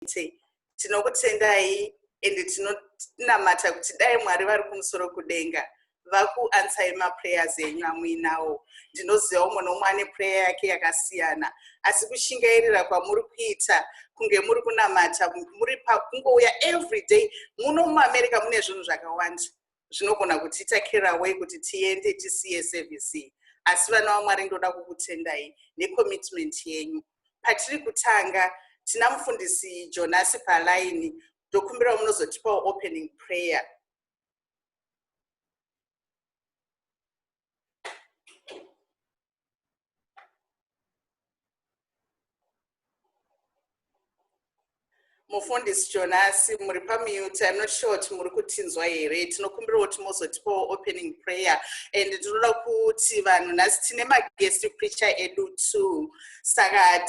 muite tinokutendai and tinonamata kuti dai mwari vari kumusoro kudenga vakuansai maprayers enyu amuinawo ndinoziva umwe nomwe ane prayer yake yakasiyana asi kushingairira kwamuri kuita kunge muri kunamata muri pakungouya every day muno muamerica mune zvinhu zvakawanda zvinogona kutiita caraway kuti tiende tisiye service iyi asi vana vamwari ndoda kukutendai necommitment yenyu patiri kutanga tina mufundisi jonasi palaini ndokumbirawo munozotipawo opening prayer mufundisi jonasi muri pamute im not sure kuti muri kutinzwa here tinokumbirawo kuti mozotipawo opening prayer and ndinoda kuti vanhu nhasi tine maguest preacher edu too saka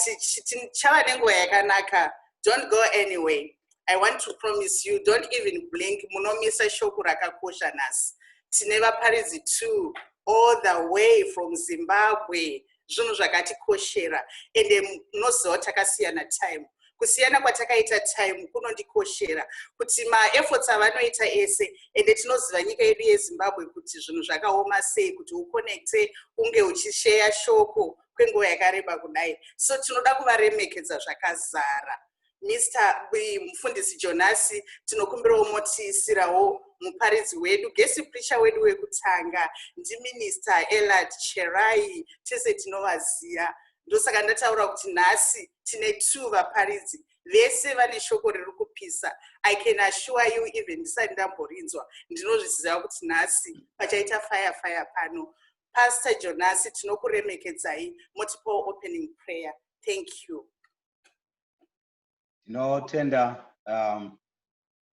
chava nenguva yakanaka don't go anyway i want to promise you don't even blink munomisa shoko rakakosha nhasi tine vaparidzi two all the way from zimbabwe zvinhu zvakatikoshera ende munoziva takasiyana time kusiyana kwatakaita time kunondikoshera kuti maefforts avanoita ese ende tinoziva nyika yedu yezimbabwe kuti zvinhu zvakaoma sei kuti uconnecte unge uchisheya shoko kwenguva yakareba kudai so tinoda kuvaremekedza zvakazara Mister Mufundisi Jonasi tinokumbirawo motiisirawo muparidzi wedu gesi prisha wedu wekutanga ndiminista elad cherai tese tinovaziva ndosaka ndataura kuti nhasi tine two vaparidzi vese vane shoko riri kupisa i can assure you even ndisati ndamborinzwa ndinozviziva kuti nhasi pachaita fire fire pano pastor jonasi tinokuremekedzai motipawo opening prayer thank you tinotenda um,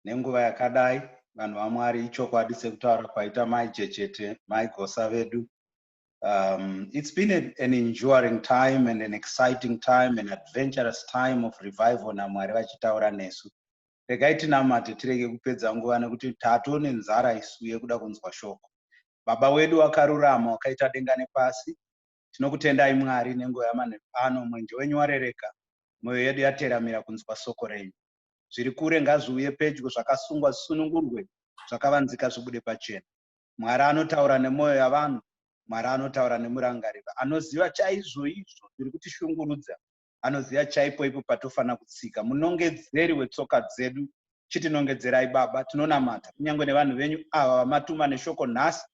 nenguva yakadai vanhu vamwari ichokwadi sekutaura kwaita mai jechete mai gosa vedu um, it's been a, an enduring time and an exciting time an adventurous time of revival namwari vachitaura nesu regai tinamate tirege kupedza nguva nekuti tatone nzara isu yekuda kunzwa shoko baba wedu wakarurama wakaita denga nepasi Tinokutendai Mwari nenguva yamanheru ano, mwenje wenyu warereka, mwoyo yedu yateramira kunzwa soko renyu. Zviri kure ngazviuye pedyo, zvakasungwa zvisunungurwe, zvakavanzika zvibude pachena. Mwari anotaura nemwoyo yavanhu, Mwari anotaura nemurangariro, anoziva chaizvoizvo zviri kutishungurudza, anoziva chaipo ipo patofanira kutsika munongedzeri wetsoka dzedu chitinongedzerai baba tinonamata kunyange nevanhu venyu ava vamatuma neshoko nhasi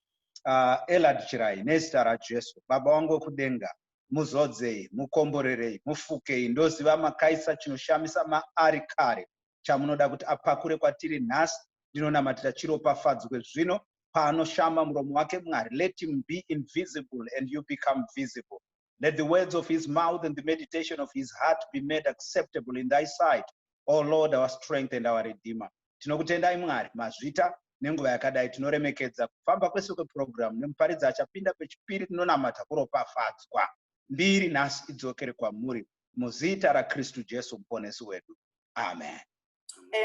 uh, elad chirai nezita rajesu baba wangu wekudenga muzodzei mukomborerei mufukei ndoziva makaisa chinoshamisa maari kare chamunoda kuti apakure kwatiri nhasi ndinonamatira chiropafadzwe zvino paanoshama muromo wake mwari let him be invisible and you become visible Let the words of his mouth and the meditation of his heart be made acceptable in thy sight, O Lord, our strength and our redeemer. Tinokutendai Mwari mazvita nenguva yakadai tinoremekedza kufamba kwese kwepurogiramu nemuparidzi achapinda pechipiri tinonamata kuropafadzwa mbiri nhasi idzokere kwamuri muzita rakristu jesu muponesi wedu amen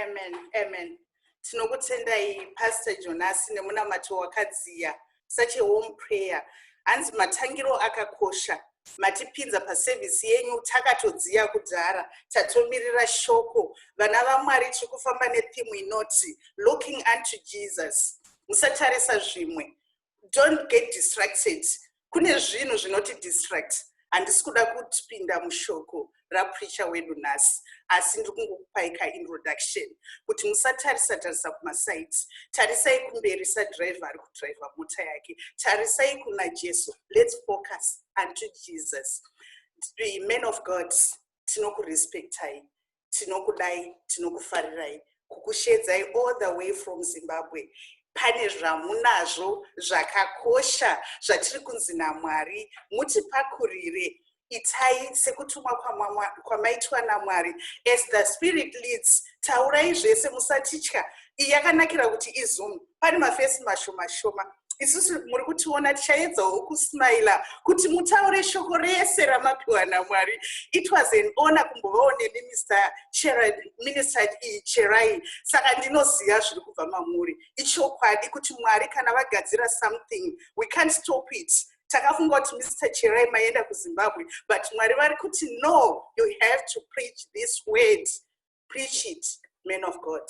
amen amen tinokutendai pastor jonasi nemunamato wakadziya such a home prayer hanzi matangiro akakosha matipinza pasevhisi yenyu takatodziya kudhara tatomirira shoko vana vamwari tiri kufamba nethimu inoti looking unto jesus musatarisa zvimwe don't get distracted kune zvinhu zvinoti distract handisi kuda kutipinda mushoko rapreacha wedu nhasi asi ndiri kungokupai kaintroduction kuti musatarisa tarisa kumasaids tarisai kumberi sadriver ari kudriver mota yake tarisai kuna jesu lets focus unto jesus man of god tinokurespectai tinokudai tinokufarirai kukusheedzai all the way from zimbabwe pane zvamunazvo zvakakosha zvatiri kunzi namwari mutipakurire itai sekutumwa kwamaitwa namwari as the spirit leads taurai zvese musatitya iyi yakanakira kuti izoom pane mafesi mashoma shoma isusu muri kutiona tichaedzawo kusmaila kuti mutaure shoko rese ramapiwa namwari it was an honor kumbovawo nemi mr minister iyi cherai saka ndinoziva zviri kubva mamuri ichokwadi kuti mwari kana vagadzira something we can't stop it takafunga kuti mr cherai maenda kuzimbabwe but mwari vari kuti no you have to preach this word preach it man of god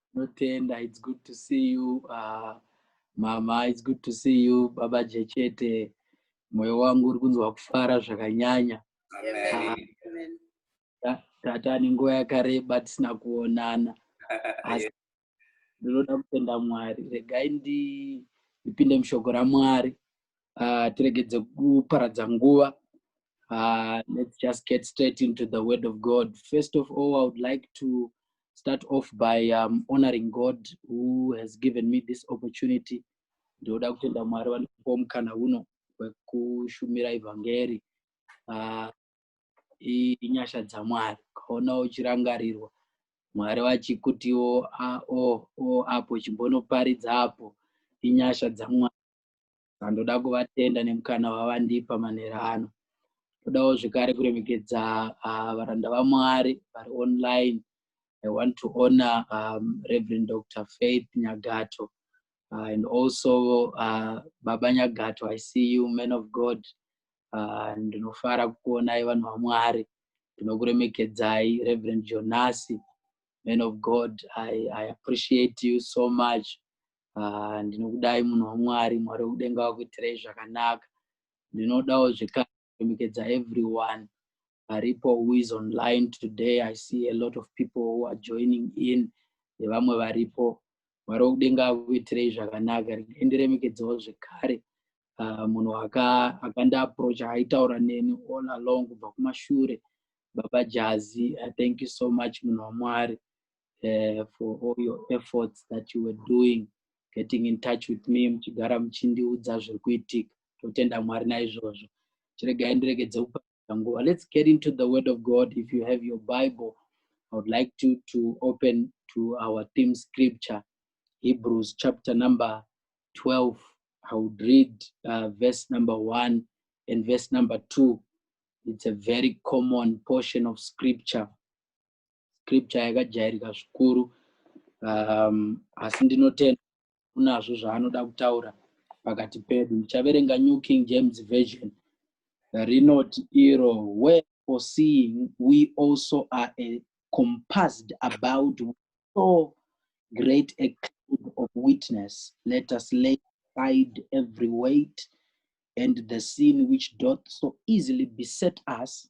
Tinotenda. It's good to see you uh, mama. It's good to see you baba Jechete. Moyo wangu uri kunzwa kufara zvakanyanya. Amen. Amen. Ta- Tata ni nguva yakareba tisina kuonana. Asi ndinoda kutenda Mwari. Regai ndi ndipinde mushoko raMwari. uh, tiregedze kuparadza nguva uh, let's just get straight into the word of god first of all i would like to start off by um, honoring god who has given me this opportunity ndinoda kutenda mwari vanopa mukana uno wekushumira evhangeri uh, inyasha dzamwari ukaona uchirangarirwa mwari vachikutiwo ah, o oh, o oh, apo chimbonoparidza apo inyasha dzamwari Ndoda kuvatenda nemukana wavandipa manera ano. Ndodawo zvekare kuremekedza uh, varanda vaMwari vari online. I want to honor um, Reverend Dr. Faith Nyagato uh, and also uh, Baba Nyagato. I see you, man of God. Uh, ndinofara uh, kukuonai vanhu vaMwari. Ndinokuremekedzai Reverend Jonasi, man of God. I, I appreciate you so much. ah, ndinokudai munhu wamwari mwari wekudenga wakuitirai zvakanaka ndinodawo zvekare kuremekedza everyone aripo who is online today i see a lot of people who are joining in nevamwe varipo mwari wekudenga akuitirei zvakanaka endiremekedzawo zvekare ah, munhu akandiaproacha aitaura neni all along kubva kumashure baba jazi i thank you so much munhu wamwari uh, for all your efforts that you were doing getting in touch with me muchigara muchindiudza zviri kuitika totenda mwari naizvozvo chiregai ndiregedze kupaa nguva let's get into the word of god if you have your bible i would like to, to open to our theme scripture hebrews chapter number 12 i would read uh, verse number 1 and verse number 2 it's a very common portion of scripture scripture yakajairika zvikuru um, asi ndinotenda kunazvo zvaanoda kutaura pakati pedu ndichaverenga new king james version rinoti iro where for seeing we also are a compassed about so great a cloud of witness let us lay aside every weight and the sin which doth so easily beset us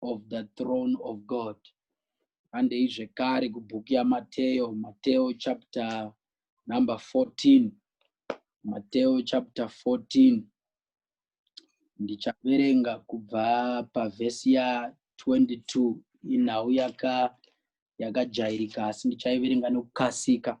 of the throne of God. Handei zvekare kubhuku yaMateo, Mateo chapter number 14. Mateo chapter 14. Ndichaverenga kubva pavhesi ya 22 inhau yaka yakajairika asi ndichaiverenga nokukasika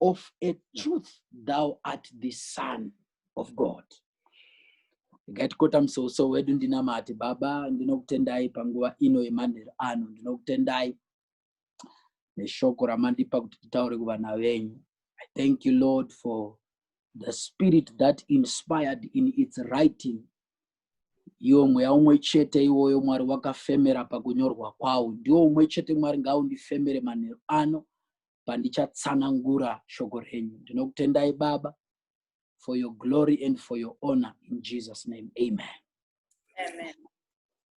of a truth thou art the son of god gatikotamusoso wedu ndinamati baba ndinokutendai panguva ino yemanheru ano ndinokutendai neshoko ramandipa kuti titaure kuvana venyu i thank you lord for the spirit that inspired in its writing iwo mweya umwe chete iwoyo mwari wakafemera pakunyorwa kwawo ndiwo umwe chete mwari ngaundifemere manheru ano pandichatsanangura shoko renyu ndinokutendai baba for your glory and for your honor in jesus name amen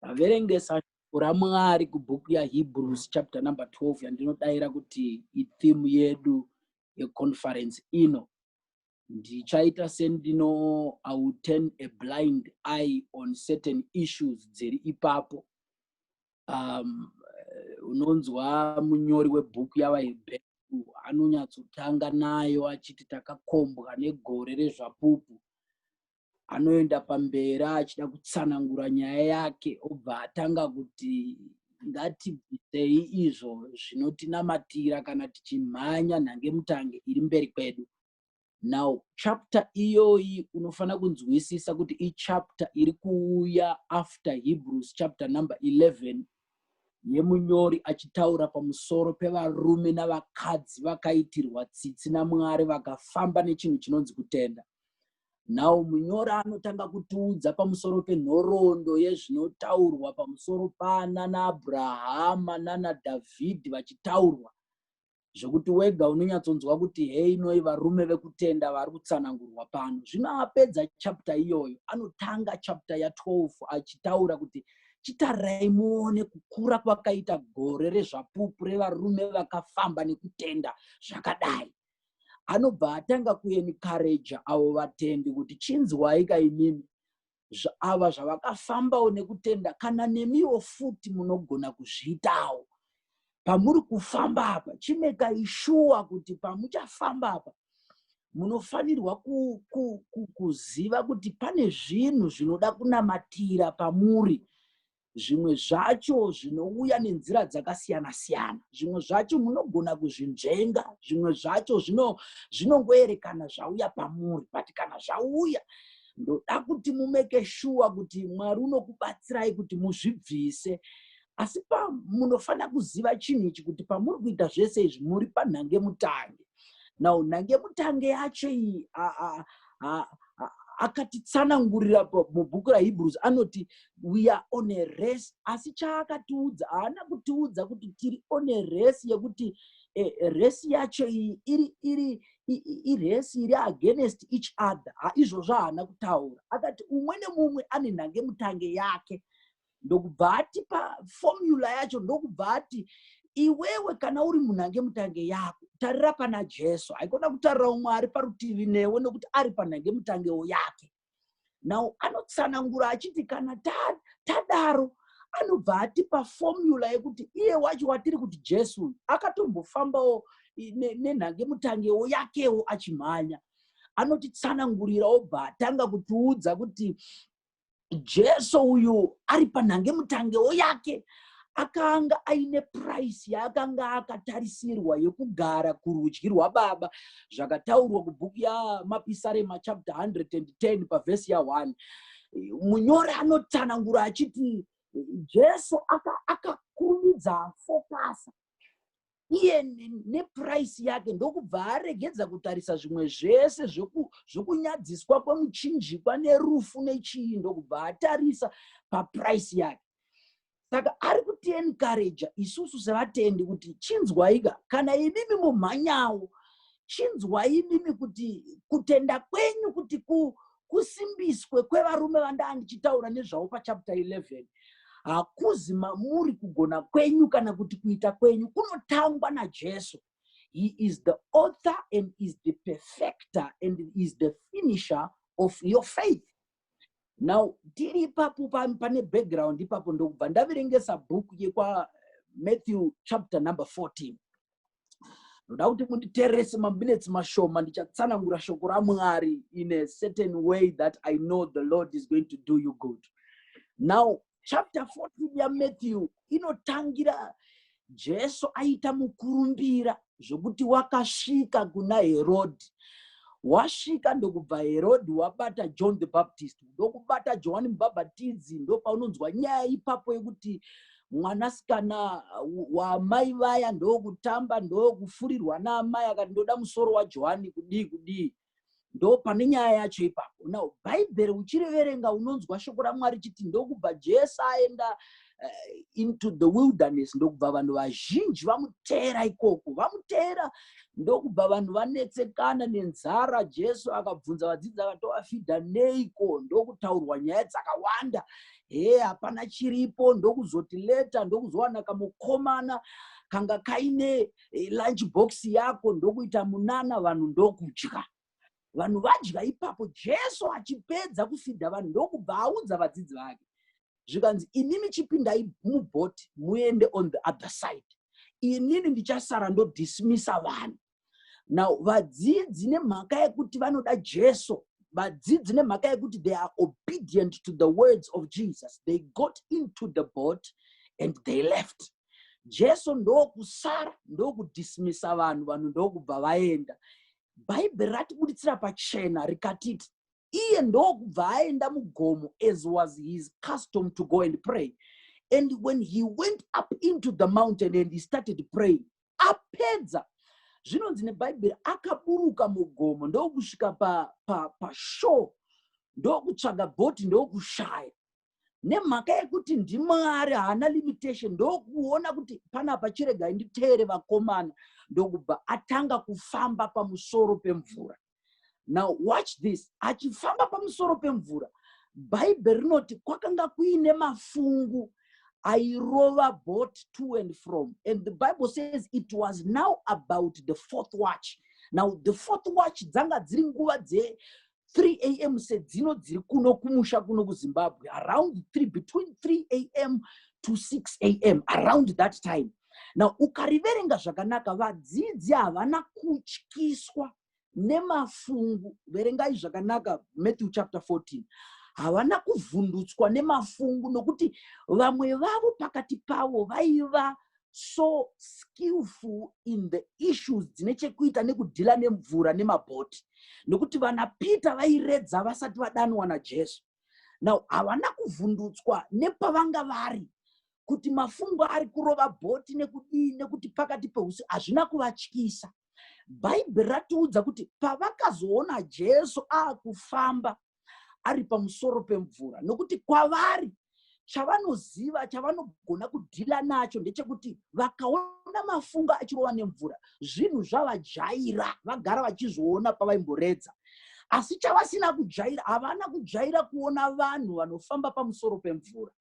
vaverengesa shoko ramwari kubhuku yahebrews chapter number 12 yandinodaira kuti ithimu yedu yeconference ino ndichaita sendino i will turn a blind eye on certain issues dziri ipapo um, unonzwa munyori webhuku yavahebheru anonyatsotanga nayo achiti takakombwa negore rezvapupu anoenda pamberi achida kutsanangura nyaya yake obva atanga kuti ngatibvisei izvo zvinotinamatira kana tichimhanya nhangemutange iri mberi kwedu now chapter iyoyi unofanira kunzwisisa kuti ichapter iri kuuya after hebrews chapter number 11 yemunyori achitaura pamusoro pevarume navakadzi vakaitirwa tsitsi namwari vakafamba nechinhu chinonzi kutenda nhau munyori anotanga kutiudza pamusoro penhoroondo yezvinotaurwa pamusoro pana naabrahama nanadhavhidhi vachitaurwa zvekuti wega unonyatsonzwa kuti heinoi varume vekutenda vari kutsanangurwa pano zvino apedza chapta iyoyo anotanga chapta ya12 achitaura kuti chitarai muone kukura kwakaita gore rezvapupu revarume vakafamba nekutenda zvakadai anobva atanga kuenikareja avo vatendi kuti chinzwai kaimimi ava zvavakafambawo nekutenda kana nemiwo futi munogona kuzviitawo pamuri kufamba apa chimekai shuwa kuti pamuchafamba apa munofanirwa ku, ku, ku, kuziva kuti pane zvinhu zvinoda kunamatira pamuri zvimwe zvacho zvinouya nenzira dzakasiyana siyana zvimwe zvacho munogona kuzvinzvenga zvimwe zvacho zvinongoerekana zvauya pamuri but kana zvauya ndoda kuti mumeke shuwa kuti mwari unokubatsirai kuti muzvibvise asi pamunofanira kuziva chinhu ichi kuti pamuri kuita zvese izvi muri panhange mutange now nhange mutange yacho iyi akatitsanangurira mubhuku rahebrews anoti we are on a race asi chaakatiudza haana kutiudza kuti tiri on a race yekuti e, race yacho iyi iri iri iresi iri against each other izvozvo haana kutaura akati umwe nemumwe ane nhange mutange yake ndokubva atipa fomula yacho ndokubva ati iwewe kana uri munhu ange mutange yako tarira pana jesu haikona kutarira umwe ari parutivi newe nokuti ari panhange mutangewo yake now anotsanangura achiti kana tadaro ta anobva atipa fomula yekuti iye wacho watiri kuti jesu uyu akatombofambawo nenhange mutangewo yakewo achimhanya anotitsanangurira obva atanga kutiudza kuti jesu uyu ari panhange mutangewo yake akanga aine puraisi yaakanga akatarisirwa yekugara kurudyi rwababa zvakataurwa kubhuku yamapisarema chapter 110 pavhesi ya1 munyori anotsanangura achiti jesu akakurumidza aka fokasa iye neprice yake ndokubva aregedza kutarisa zvimwe zvese zvokunyadziswa kwemuchinjikwa nerufu nechii ndokubva atarisa paprice yake saka ari kutienkareja isusu sevatendi kuti chinzwaika kana imimi mumhanyawo chinzwaimimi kuti kutenda kwenyu kuti ku kusimbiswe kwevarume vandaa ndichitaura nezvavo pachapter 11 hakuzi mamuri kugona kwenyu kana kuti kuita kwenyu kunotangwa najesu he is the author and is the perfecter and is the finisher of your faith now tiri ipapo pane background ipapo ndokubva ndaverengesa bhuku yekwamatthew chapter number 14 ndoda kuti munditerese maminutes mashoma ndichatsanangura shoko ramwari in a certain way that i know the lord is going to do you good now chapter 14 yamatthew inotangira jesu aita mukurumbira zvokuti wakasvika kuna herodhi wasvika ndokubva herodhi wabata john the baptist ndokubata johani mubhabhatidzi ndopaunonzwa nyaya ipapo yekuti mwanasikana wamai vaya ndokutamba ndokufurirwa naamai akati ndoda musoro wajohani kudii kudii ndo pane nyaya yacho ipapo now bhaibheri uchiriverenga unonzwa shoko ramwari chiti ndokubva jesu aenda eh, into the wilderness ndokubva vanhu vazhinji vamuteera ikoko vamuteera ndokubva vanhu vanetsekana nenzara jesu akabvunza vadzidzi akatovafidha neiko ndokutaurwa nyaya dzakawanda hee hapana chiripo ndokuzoti leta ndokuzowana kamukomana kanga kaine eh, lunch box yako ndokuita munana vanhu ndokudya vanhu vadya ipapo jesu achipedza kufidha vanhu ndokubva audza vadzidzi vake zvikanzi inini chipindai mubhoti muende on the other side inini ndichasara ndodismisa vanhu now vadzidzi nemhaka yekuti vanoda jesu vadzidzi nemhaka yekuti they are obedient to the words of jesus they got into the boat and they left jesu ndokusara ndokudismisa vanhu vanhu ndokubva vaenda bhaibheri ratibuditsira pachena rikatiti iye ndokubva aenda mugomo as was his custom to go and pray and when he went up into the mountain and he started praying apedza zvinonzi nebhaibheri akaburuka mugomo ndokusvika pashoo pa, pa ndokutsvaga bhoti ndokushaya nemhaka yekuti ndimwari haana limitation ndokuona kuti panapa chiregai nditeere vakomana ndokubva atanga kufamba pamusoro pemvura now watch this achifamba pamusoro pemvura bhaibheri rinoti kwakanga kuine mafungu airova boat to and from and the bible says it was now about the fourth watch now the fourth watch dzanga dziri nguva dze 3 a m sedzino dziri kuno kumusha kuno kuzimbabwe around 3 between 3 a m to 6 a m around that time now ukariverenga zvakanaka vadzidzi havana kutyiswa nemafungu verengai zvakanaka matthew chapter 14 havana kuvhundutswa nemafungu nokuti vamwe vavo pakati pavo vaiva so skillful in the issues dzine chekuita nekudhila nemvura nemabhoti nokuti vanapeter vairedza vasati vadanwa najesu now havana kuvhundutswa nepavanga vari kuti mafungo ari kurova bhoti nekudii nekuti pakati peusi hazvina kuvatyisa bhaibheri ratiudza kuti pavakazoona jesu aakufamba ari pamusoro pemvura nokuti kwavari chavanoziva chavanogona kudhila nacho ndechekuti vakaona mafunga achirova nemvura zvinhu zvavajaira vagara vachizviona pavaimboredza asi chavasina kujaira havana kujaira kuona vanhu vanofamba pamusoro pemvura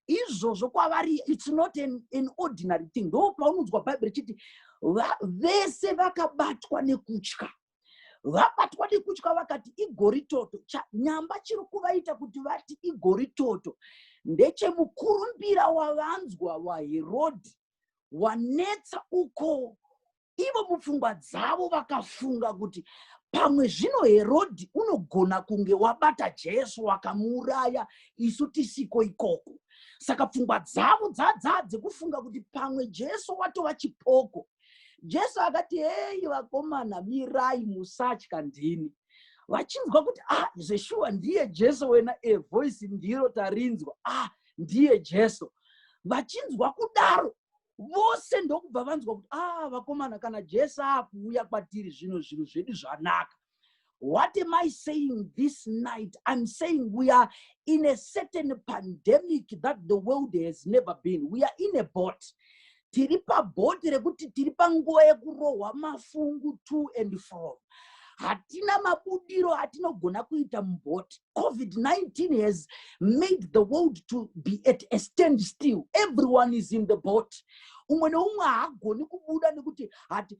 izvozvo kwavari its not an, an ordinary thing ndo paunonzwa bhaibheri chiti vese vakabatwa nekutya vabatwa nekutya vakati igoritoto nyamba chiri kuvaita kuti vati igoritoto ndechemukurumbira wavanzwa waherodhi wanetsa uko ivo mupfungwa dzavo vakafunga kuti pamwe zvino herodhi unogona kunge wabata jesu wakamuuraya isu tisiko ikoko saka pfungwa dzavo dzadzaa dzekufunga kuti pamwe jesu watova chipoko jesu akati heyi vakomana mirai musatya ndini vachinzwa kuti ah zveshuwa ndiye jesu wena e voice ndiro tarinzwa ah ndiye jesu vachinzwa kudaro vose ndokubva vanzwa kuti ah vakomana kana jesu akuuya kwatiri zvino zvinhu zvedu zvanaka What am I saying this night? I'm saying we are in a certain pandemic that the world has never been. We are in a boat. tiri pabhoti rekuti tiri panguva yekurohwa mafungu to and from hatina mabudiro atinogona kuita mubhoti COVID-19 has made the world to be at a stand still. Everyone is in the boat. umwe neumwe haagoni kubuda nekuti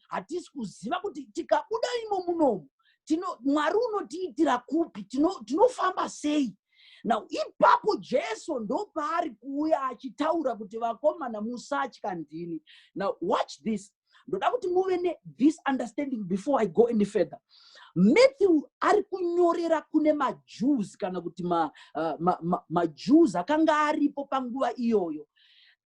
hatisi kuziva kuti tikabuda imo munomu mwari unotiitira kupi tinofamba tino sei now ipapo jesu ndopaari kuuya achitaura kuti vakomana musatya ndini now watch this ndoda kuti muve ne this understanding before i go any further matthew ari kunyorera kune majews kana kuti majews ma, uh, ma, ma, ma akanga aripo panguva iyoyo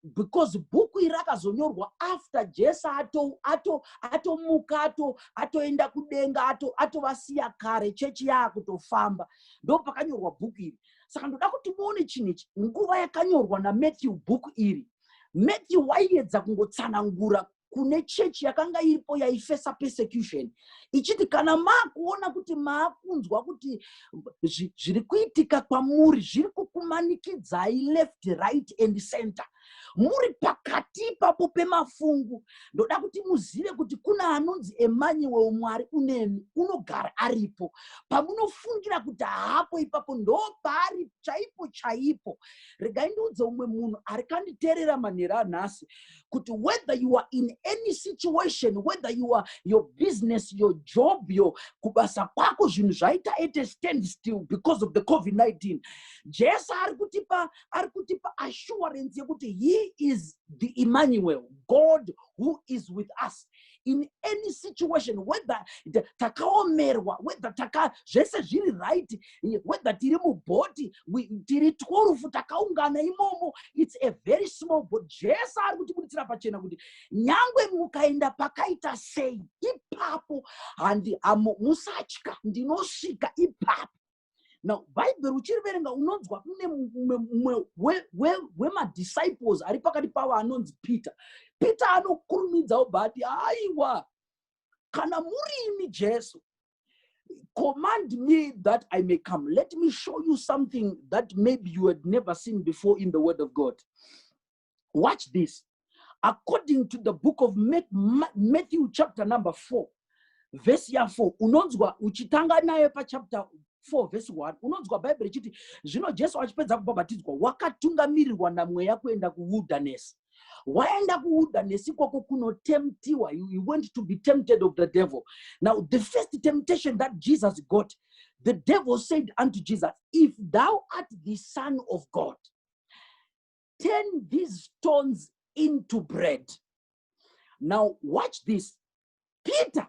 because bhuku iri rakazonyorwa after jesu atomuka ato, ato, ato atoenda kudenga atovasiya ato kare chechi yaakutofamba ndo pakanyorwa bhuku iri saka ndoda kuti muone chinhu ichi nguva yakanyorwa namatthew bhuku iri matthew waiedza kungotsanangura kune chechi yakanga iripo yaifesa persecution ichiti kana maakuona kuti maakunzwa kuti zviri kuitika kwamuri zviri kukumanikidzai left right and center muri pakati ipapo pemafungu ndoda kuti muzive kuti kuna anonzi emanyuwel mwari unemi unogara aripo pamunofungira kuti haapo ipapo ndo paari chaipo chaipo regai ndiudze umwe munhu ari kanditerera manhera anhasi kuti whether you are in any situation whether you are your business your job yo kubasa kwako zvinhu zvaita at a stand still because of the covid-19 jesu ari kutipa ari kutipa assurance yekuti he is the emmanuel god who is with us in any situation whether takaomerwa whether taka zvese zviri right whether tiri mubhoti tiri twurufu takaungana imomo its a very small bot jesu ari kutibuditsira pachena kuti nyangwe mukaenda pakaita sei ipapo handi musatya ndinosvika ipapo now bhaibheri uchiriverenga unonzwa kune mumwe wemadisciples ari pakati pavo anonzi peter peter anokurumidzawo bati haiwa kana muri imi jesu command me that i may come let me show you something that maybe you had never seen before in the word of god watch this according to the book of matthew chapter number 4 vhesi ya4 unonzwa uchitanga naye pachapter 4 vhesi 1 unonzwa bhaibheri ichiti zvino jesu achipedza kubhabhatidzwa wakatungamirirwa namweya kuenda kuwilderness waenda kuwilderness ikoko kunotemtiwa he went to be tempted of the devil now the first temptation that jesus got the devil said unto jesus if thou art the son of god turn these stones into bread now watch this peter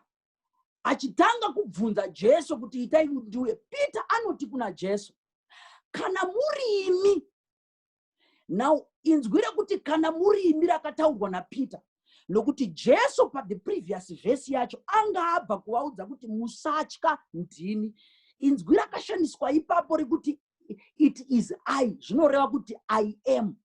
achitanga kubvunza jesu kuti itai kuti ndiuye peter anoti kuna jesu kana muri imi now inzwi rekuti kana muri imi rakataurwa napeter nokuti jesu pathe previous vhesi yacho anga abva kuvaudza kuti musatya ndini inzwi rakashandiswa ipapo rekuti it is i zvinoreva kuti i am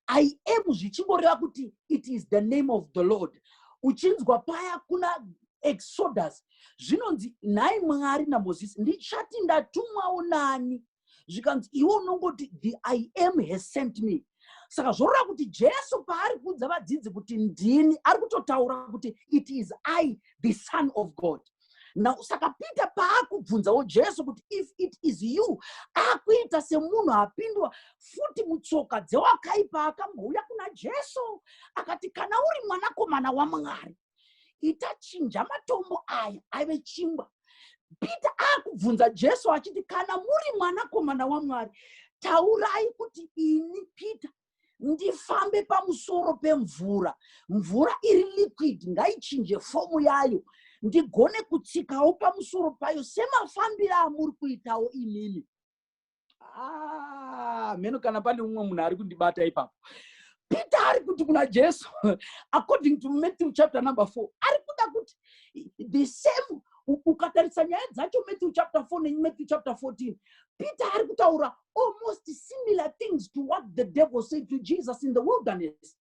i am zvichingoreva kuti it is the name of the lord uchinzwa paya kuna exodus zvinonzi nhai mwari namozisi ndichati ndatumwawo nani zvikanzi iwe unongoti the i am has sent me saka zvorora kuti jesu paari kuudza vadzidzi kuti ndini ari kutotaura kuti it is i the son of god now saka peter paakubvunzawo jesu kuti if it is you akuita semunhu apindwa futi mutsoka dzewakaipa akambouya kuna jesu akati kana uri mwanakomana wamwari ita chinja matombo aya aive chingwa peter akubvunza jesu achiti kana muri mwanakomana wamwari taurai kuti ini peter ndifambe pamusoro pemvura mvura iri liquid ngaichinje fomu yayo ndigone kutsikawo pamusoro payo semafambiro amuri kuitawo imimi ah, mheno kana pane umwe munhu ari kundibata ipapo peter ari kuti kuna jesu according to matthew chapter number four ari kuda kuti the same ukatarisa nyaya dzacho matthew chapter four nematthew chapter fourteen peter ari kutaura almost similar things to what the devil said to jesus in the wilderness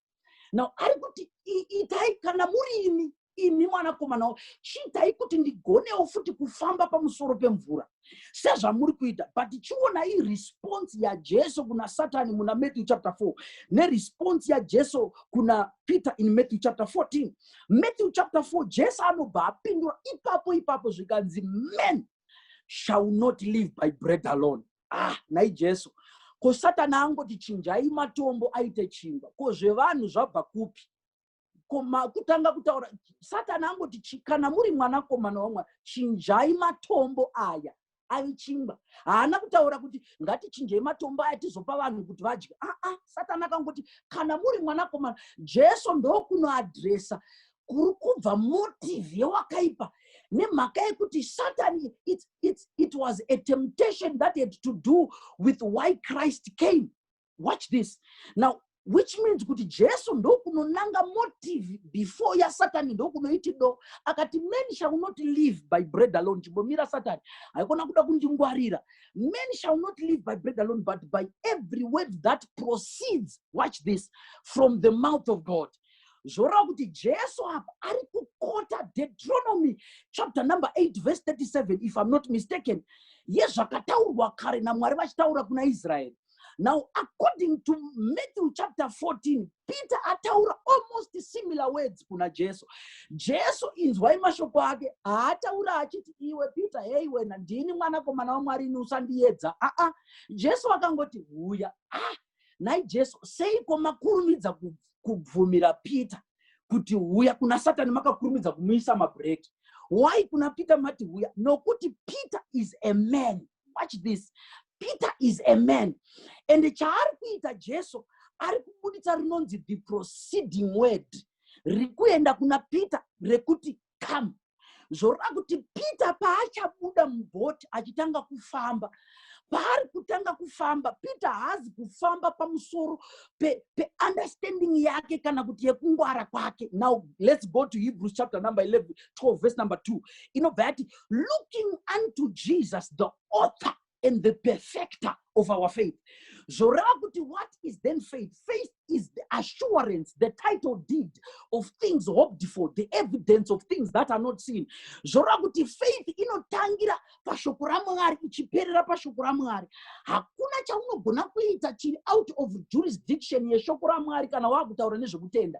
now ari kuti "I- itai kana muri imi imi mwanakomana wa- chiitai kuti ndigonewo futi kufamba pamusoro pemvura sezvamuri kuita but chionai response yajesu kuna satani muna matthew chapter 4 neresponse yajesu kuna peter in matthew chapter 14 matthew chapter 4 jesu anobva apindura ipapo ipapo zvikanzi men shall not live by bread alone ah nhai jesu ko satani angoti chinjai matombo aite chingwa ko zvevanhu zvabva kupi kutanga kutaura satani angoti kana muri mwanakomana wamwari chinjai matombo aya ave chingwa haana kutaura kuti ngatichinjei matombo aya tizopa vanhu kuti vadye aa satani akangoti kana muri mwanakomana jesu ndokunoadresa kuri kubva motive yewakaipa nemhaka yekuti satani it, it, it was a temptation that had to do with why christ came watch this now which means kuti jesu ndokunonanga motive before yasatani ndokunoiti do akati men shall not live by bread alone chimbomira satani haikona kuda kundingwarira men shall not live by bread alone but by every word that proceeds watch this from the mouth of god zvoreva kuti jesu apa ari kukota deuteronomy chapter number 8 verse 37 if i'm not mistaken yezvakataurwa kare namwari vachitaura kuna israeri now according to matthew chapter 14 peter ataura almost similar words kuna jesu jesu inzwai mashoko ake haataura achiti iwe peter hei wena ndini mwanakomana wamwari ini usandiyedza aa jesu akangoti huya ah nhai jesu seiko makurumidza kubvumira peter kuti huya kuna satani makakurumidza kumuisa mabread why kuna peter mati huya nokuti peter is a man watch this peter is a man and chaari kuita jesu ari kubuditsa rinonzi the proceeding word rikuenda kuna peter rekuti come zvoreva kuti peter paachabuda mubhoti achitanga kufamba paari kutanga kufamba peter haazi kufamba pamusoro peunderstanding pe yake kana kuti yekungwara kwake now let's go to hebrews chapter number 11 12 verse number 2 inobva yati looking unto jesus the author and the perfecter of our faith zvoreva kuti what is then faith faith is the assurance the title deed of things hoped for the evidence of things that are not seen zvoreva kuti faith inotangira pashoko ramwari ichiperera pashoko ramwari hakuna chaunogona kuita chiri out of jurisdiction yeshoko ramwari kana waakutaura nezvekutenda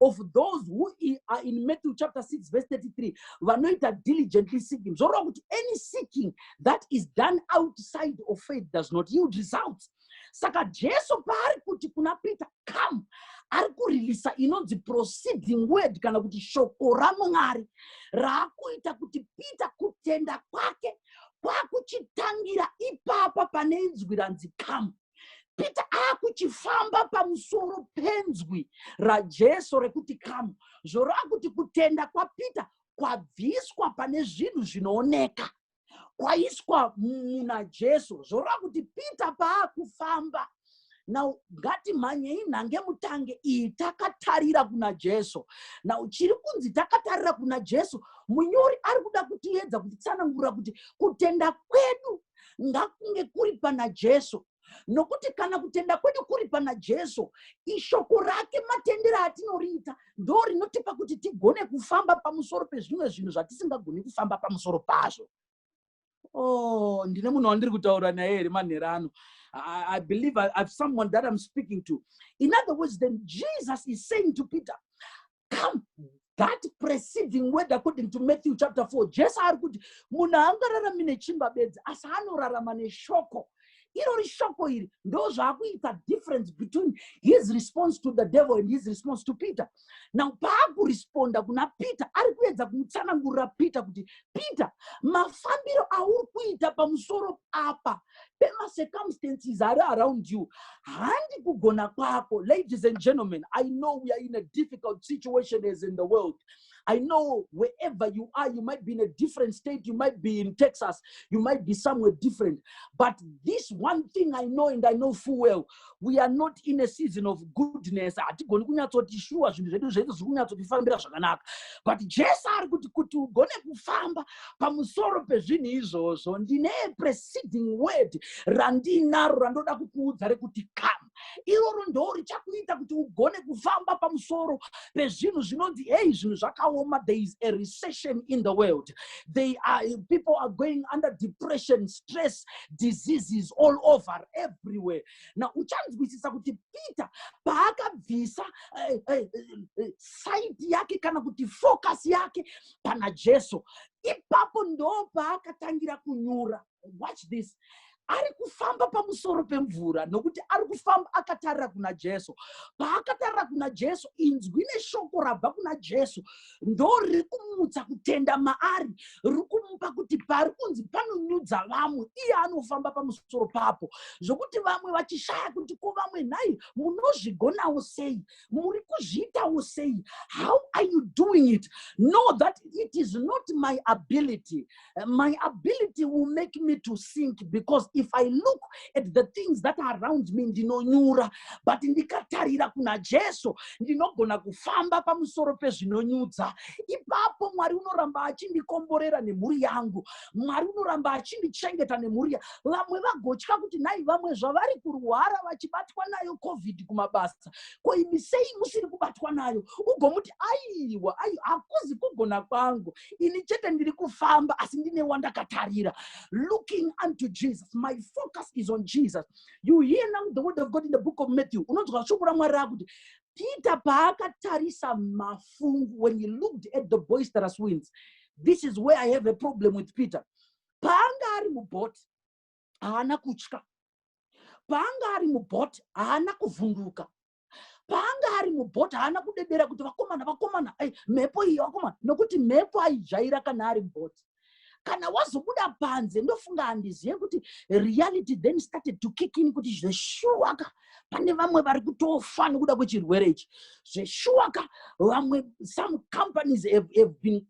of those who are in Matthew chapter 6 verse 33 vanoita diligently seeking zvoreva kuti any seeking that is done outside of faith does not yield results saka jesu paari kuti kuna peter come ari kurelisa inonzi proceeding word kana kuti shoko ramwari raakuita kuti peter kutenda kwake kwakuchitangira ipapa pane inzwi ranzi come peter akuchifamba pamusoro penzwi rajesu rekuti kamu zvoreva kuti kutenda kwapeter kwabviswa pane zvinhu zvinooneka kwaiswa muna jesu zvoreva kuti peter paakufamba now ngatimhanyei nhange mutange iyi takatarira kuna jesu now chiri kunzi takatarira kuna jesu munyori ari kuda kutiedza kutitsanangura kuti kutenda kwedu ngakunge kuri pana jesu nokuti kana kutenda kwedu kuri pana jesu ishoko rake matendero atinoriita ndo rinotipa kuti tigone kufamba pamusoro pezvimwe zvinhu zvatisingagoni kufamba pamusoro pazvo o oh, ndine munhu wandiri kutaura naye here manhero ano I, I believe I, I've someone that I'm speaking to. In other words, then Jesus is saying to Peter, come that preceding word according to matthew chapter 4 jesu ari kuti munhu haangararami nechimba bedzi asi anorarama neshoko irori shoko iri ndo zvaakuita difference between his response to the devil and his response to peter now paakuresponda kuna peter ari kuedza kumutsanangurira peter kuti peter mafambiro auri kuita pamusoro apa pemacircumstances ari around you handi kugona kwako ladies and gentlemen i know we are in a difficult situation as in the world i know wherever you are you might be in a different state you might be in texas you might be somewhere different but this one thing i know and i know full well we are not in a season of goodness hatigoni kunyatsoti shuwa zvinhu zvedu zvese zviri kunyatsotifambira zvakanaka but jesu ari kuti kuti ugone kufamba pamusoro pezvinhu izvozvo ndine preceding word randiinaro randoda kukuudza rekuti come iroro ndoo richakuita kuti ugone kufamba pamusoro pezvinhu zvinonzi hei zvinhu zvakaoma there is a recession in the world they are, people are going under depression stress diseases all over everywhere now uchanzwisisa kuti peter paakabvisa uh, uh, uh, side yake kana kuti focus yake pana jesu ipapo ndo paakatangira kunyura watch this ari kufamba pamusoro pemvura nokuti ari kufamba akatarira kuna jesu paakatarira kuna jesu inzwi neshoko rabva kuna jesu ndoriri kumutsa kutenda maari riri kumupa kuti pari kunzi panonyudza vamwe iye anofamba pamusoro papo zvokuti vamwe vachishaya kuti ko vamwe nhai munozvigonawo sei muri kuzviitawo sei how are you doing it know that it is not my ability My ability will make me to sink because if I look at the things that are around me ndinonyura but ndikatarira kuna Jesu ndinogona kufamba pamusoro pezvinonyudza. Ipapo Mwari unoramba achindikomborera nemhuri yangu. Mwari unoramba achindichengeta nemhuri ya vamwe vagotya kuti nhai vamwe zvavari kurwara vachibatwa nayo covid kumabasa ko imi sei musiri kubatwa nayo ugomuti aiwa aiwa hakuzi kugona kwangu ini chete ndiri kufamba asi ndine wandakatarira looking unto jesus my focus is on jesus you hear now the word of god in the book of matthew unonzwa shoko ramwari rakuti peter paakatarisa mafungu when he looked at the boisterous winds this is where i have a problem with peter paanga ari mubot haana kutya paanga ari mubot haana kuvhunduka paanga ari mubhoti haana kudedera kuti vakomana vakomana ai mhepo iyi vakomana nokuti mhepo aijaira kana ari mubhoti kana wazobuda panze ndofunga handizive kuti reality then started to kick in kuti zveshuwaka pane vamwe vari kutofa nokuda kwechirwere ichi zveshuwaka vamwe some companies have, have been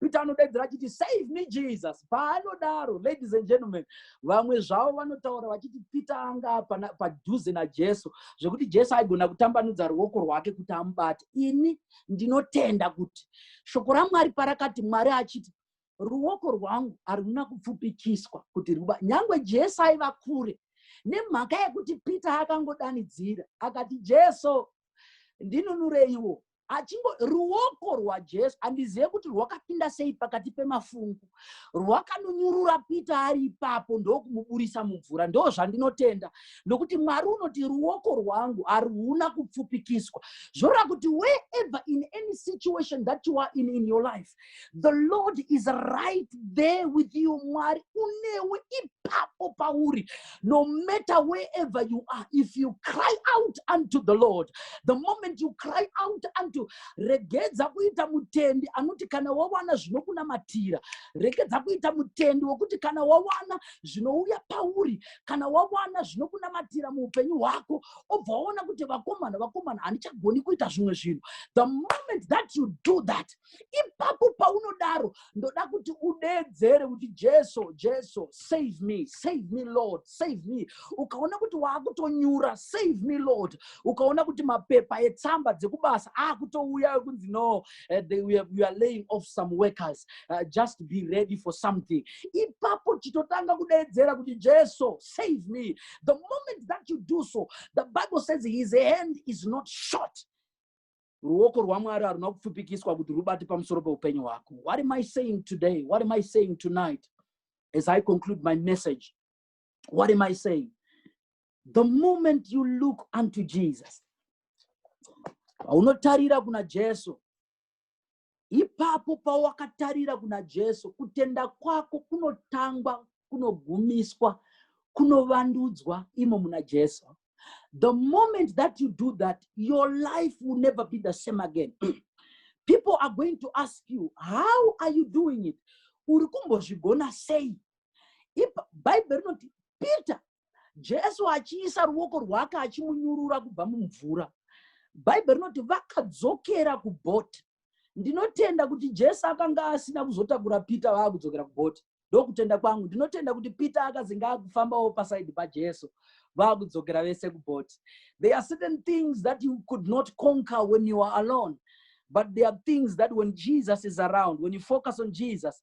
peter anodaidzira achiti save me jesus paanodaro ladies and gentlemen vamwe zvavo vanotaura vachiti peter anga padhuze najesu zvekuti jesu aigona kutambanudza ruoko rwake kuti amubate ini ndinotenda kuti shoko ramwari parakati mwari achiti ruoko rwangu haruna kupfupikiswa kuti ruba nyange jesu aiva kure nemhaka yekuti peter akangodanidzira akati jesu ndinunureiwo achingo ruoko rwajesu handizive kuti rwakapinda sei pakati pemafungu rwakanonyurura pita ari ipapo ndokumuburisa mumvura ndo zvandinotenda nokuti mwari unoti ruoko rwangu haruna kupfupikiswa zvoreva kuti wherever in any situation that you are in in your life the lord is right there with you mwari unewe ipapo pauri no matter wherever you are if you cry out unto the lord the moment you cry out unto regedza kuita mutendi anoti kana wawana zvinokunamatira regedza kuita mutendi wekuti kana wawana zvinouya pauri kana wawana zvinokunamatira muupenyu hwako obva waona kuti vakomana vakomana handichagoni kuita zvimwe zvinhu the moment that you do that ipapo paunodaro ndoda kuti udeedzere kuti jesu jesu save me save me lord save me ukaona kuti waakutonyura save me lord ukaona kuti mapepa etsamba dzekubasa akutouya ekunzi no uh, they, we, are, we are laying off some workers uh, just be ready for something ipapo chitotanga kudeedzera kuti jesu save me the moment that you do so the bible says his hand is not short ruoko rwamwari haruna kupfupikiswa kuti rubate pamusoro peupenyu hwako what am i saying today what am i saying tonight as i conclude my message what am i saying the moment you look unto jesus paunotarira kuna jesu ipapo pawakatarira kuna jesu kutenda kwako kunotangwa kunogumiswa kunovandudzwa imo muna jesu the moment that you do that your life will never be the same again people are going to ask you how are you doing it uri kumbozvigona sei bhaibheri rinoti peter jesu achiisa ruoko rwake achimunyurura kubva mumvura bhaibheri rinoti vakadzokera kubhoti ndinotenda kuti jesu akanga asina kuzotakura peter vaakudzokera kubhoti ndokutenda kwangu ndinotenda kuti peter akazi ngaakufambawo pasaidi pajesu vaakudzokera vese kubhoti there are certain things that you could not conquer when you are alone but there are things that when jesus is around when you focus on jesus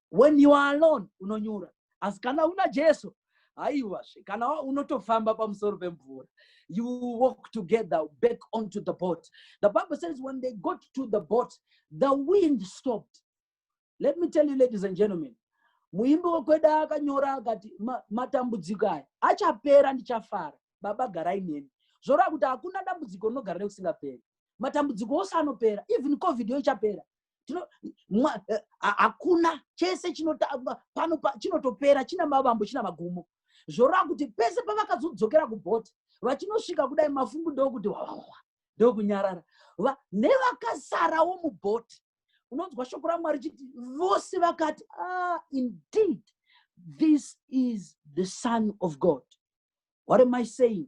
when you are alone unonyura asi kana una jesu haiwazve kana unotofamba pamusoro pemvura you walk together back onto the boat the bible says when they got to the boat the wind stopped let me tell you ladies and gentlemen muimbi wekwedu akanyora akati matambudziko aya achapera ndichafara baba garai neni zvoreva kuti hakuna dambudziko rinogara nekusingaperi matambudziko ose anopera even covid yo ichapera eh, hakuna chese chinotangwa pano chinotopera china mavambo china magumo zvoreva kuti pese pavakazodzokera kubhoti vachinosvika kudai mafungu ndokuti wawawa ndokunyarara nevakasarawo mubhoti unonzwa shoko ramwari chiti vose vakati ah, indeed this is the son of god what am i saying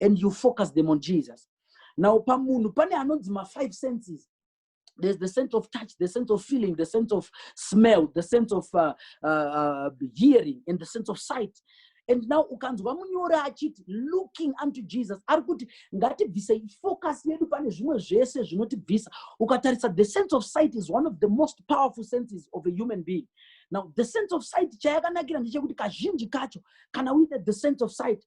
and you focus them on jesus now pamunhu pane anonzi mafive senses there's the sense of touch the sense of feeling the sense of smell the sense of uh, uh, uh, hearing and the sense of sight and now ukanzwa munyori achiti looking unto jesus ari kuti ngatibvise focus yedu pane zvimwe zvese zvinotibvisa ukatarisa the sense of sight is one of the most powerful senses of a human being now the sense of sight chayakanakira ndechekuti kazhinji kacho kana uine the sense of sight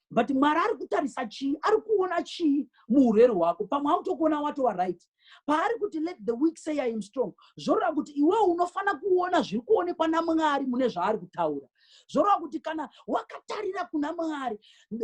but mwari ari kutarisa chii ari kuona chii muurwere hwako pamwe autokuona watova right paari kuti let the week say i am strong zvoreva kuti iwewo unofanira kuona zviri kuonekwa namwari mune zvaari kutaura zvoreva kuti kana wakatarira kuna mwari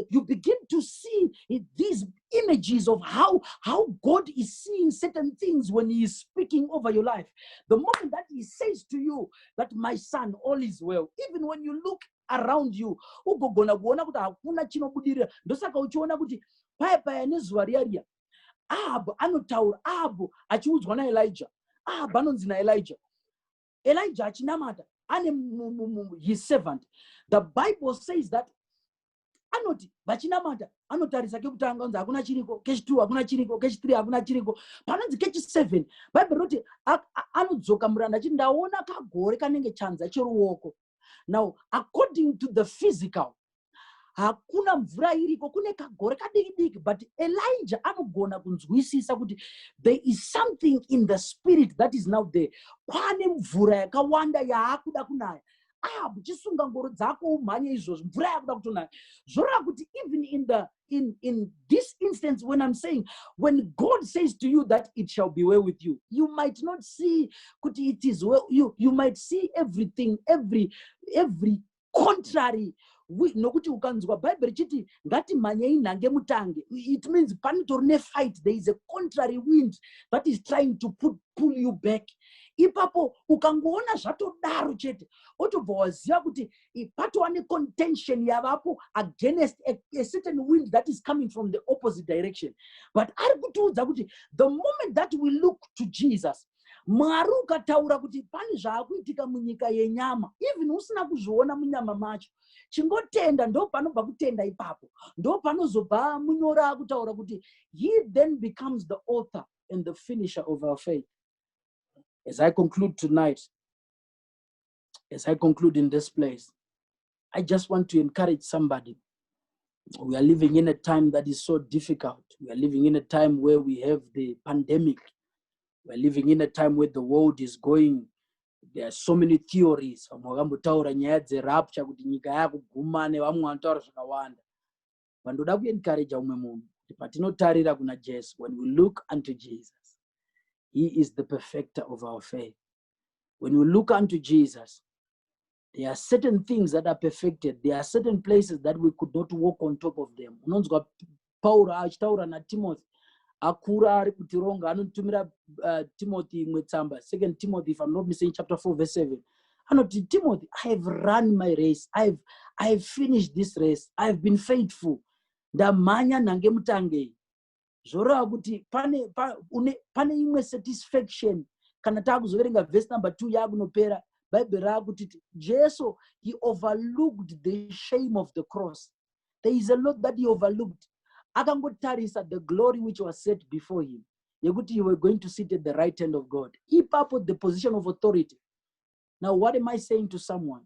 you begin to see these images of how, how god is seeing certain things when he is speaking over your life the moment that he says to you that my son all is well even when you look around you ugogona kuona kuti hakuna chinobudirira ndosaka uchiona kuti paya paya nezuva riya riya ahabhu anotaura ahabhu achiudzwa naelija ahabhu anonzi naelija elija achinamata ane his servant the bible says that anoti vachinamata anotarisa kekutanga anzi hakuna chiriko kechitwo hakuna chiriko kechithree hakuna chiriko panonzi kechiseven bhaibheri roti anodzoka muranda achiti ndaona kagore kanenge chanza cheruoko now according to the physical hakuna mvura iriko kune kagore kadiki diki but elijah anogona kunzwisisa kuti there is something in the spirit that is now there kwane mvura yakawanda yaakuda kunaya ah uchisunga ngoro dzako umhanye izvozvo mvura yakuda kutonaya zvoreva kuti even in the in, in this instance, when I'm saying, when God says to you that it shall be well with you, you might not see could it is well, you, you might see everything, every, every contrary nokuti ukanzwa bhaibheri richiti ngatimhanyei nhange mutange it means panotori nefight there is a contrary wind that is trying to put, pull you back ipapo ukangoona zvatodaro chete otobva waziva kuti if patova necontention yavapo against a, a certain wind that is coming from the opposite direction but ari kutiudza kuti the moment that we look to jesus mwari ukataura kuti pane zvaakuitika munyika yenyama even usina kuzviona munyama macho chingotenda ndo panobva kutenda ipapo ndo panozobva munyora akutaura kuti he then becomes the author and the finisher of our faith as i conclude tonight as I conclude in this place, I just want to encourage somebody. We are living in a time that is so difficult. We are living in a time where we have the pandemic. We are living in a time where the world is going. There are so many theories. Vamwe vakambotaura nyaya dzerapture kuti nyika yakuguma nevamwe vanotaura zvakawanda. Vandoda kuencourage umwe munhu kuti patinotarira kuna Jesu, when we look unto Jesus, he is the perfecter of our faith. When you look unto Jesus, there are certain things that are perfected. There are certain places that we could not walk on top of them. Unonzwa Paul achitaura na Timothy akura ari kutironga anotumira uh, Timothy imwe tsamba second Timothy if I'm not mistaken chapter 4 verse 7 anoti Timothy I have run my race I have, I have finished this race I have been faithful ndamhanya nhange mutangei zvoreva kuti pane pa, une, pane imwe satisfaction kana taakuzoverenga vhesi number two yaakunopera bhaibheri raakuti jesu he overlooked the shame of the cross there is a lot that he overlooked akangotarisa the glory which was set before him yekuti you were going to sit at the right hand of god ipapo the position of authority now what am i saying to someone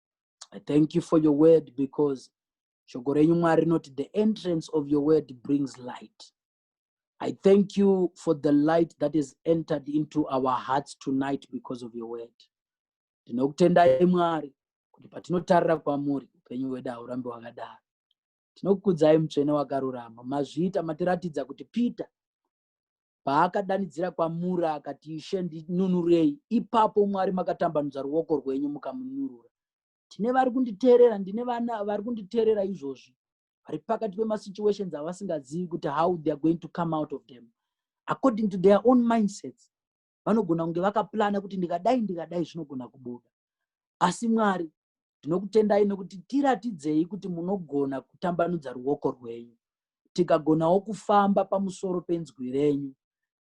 I thank you for your word because shoko renyu mwari rinoti the entrance of your word brings light i thank you for the light that is entered into our hearts tonight because of your word tinokutendai mwari kuti patinotarira kwamuri upenyu hwedu haurambi hwakadaro tinokukudzai mutsvene wakarurama mazviita matiratidza kuti peter paakadanidzira kwamuri akati ishe ndinunurei ipapo mwari makatambanudza ruoko rwenyu mukamunurura tine vari kunditeerera ndine vana vari kunditeerera izvozvi vari pakati pemasituations avasingazivi kuti how theyare going to come out of them according to their own mindsets vanogona kunge vakaplana kuti ndikadai ndikadai zvinogona kubuda asi mwari ndinokutendai nokuti tiratidzei kuti munogona kutambanudza ruoko rwenyu tikagonawo kufamba pamusoro penzwi renyu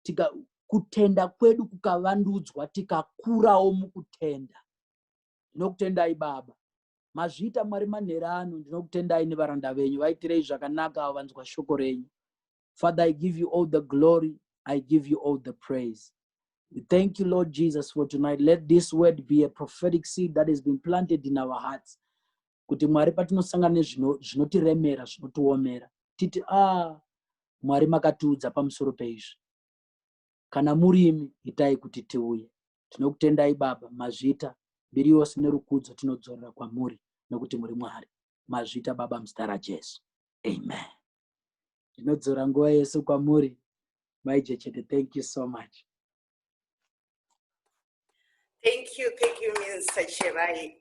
tika kutenda kwedu kukavandudzwa tikakurawo mukutenda ndinokutendai baba mazviita mwari manhera ano ndinokutendai nevaranda venyu vaitirei zvakanaka avo vanzwa shoko renyu Father, I give you all the glory. I give you all the praise. We thank you, Lord Jesus, for tonight. Let this word be a prophetic seed that has been planted in our hearts. Kuti Mwari patinosangana nezvino- zvinotiremera, zvinotiomera. Titi, ah, Mwari makatiudza pamusoro peizvi. Kana murimi, itai kuti tiuye. Tinokutendai Baba, mazvita, mbiri yose nerukudzo tinodzorera kwamuri, nokuti muri Mwari. Mazvita Baba muzita raJesu. Amen. ndinodzora nguva yese kwamuri mai jechete thank you so much thank you thank you minsa cherai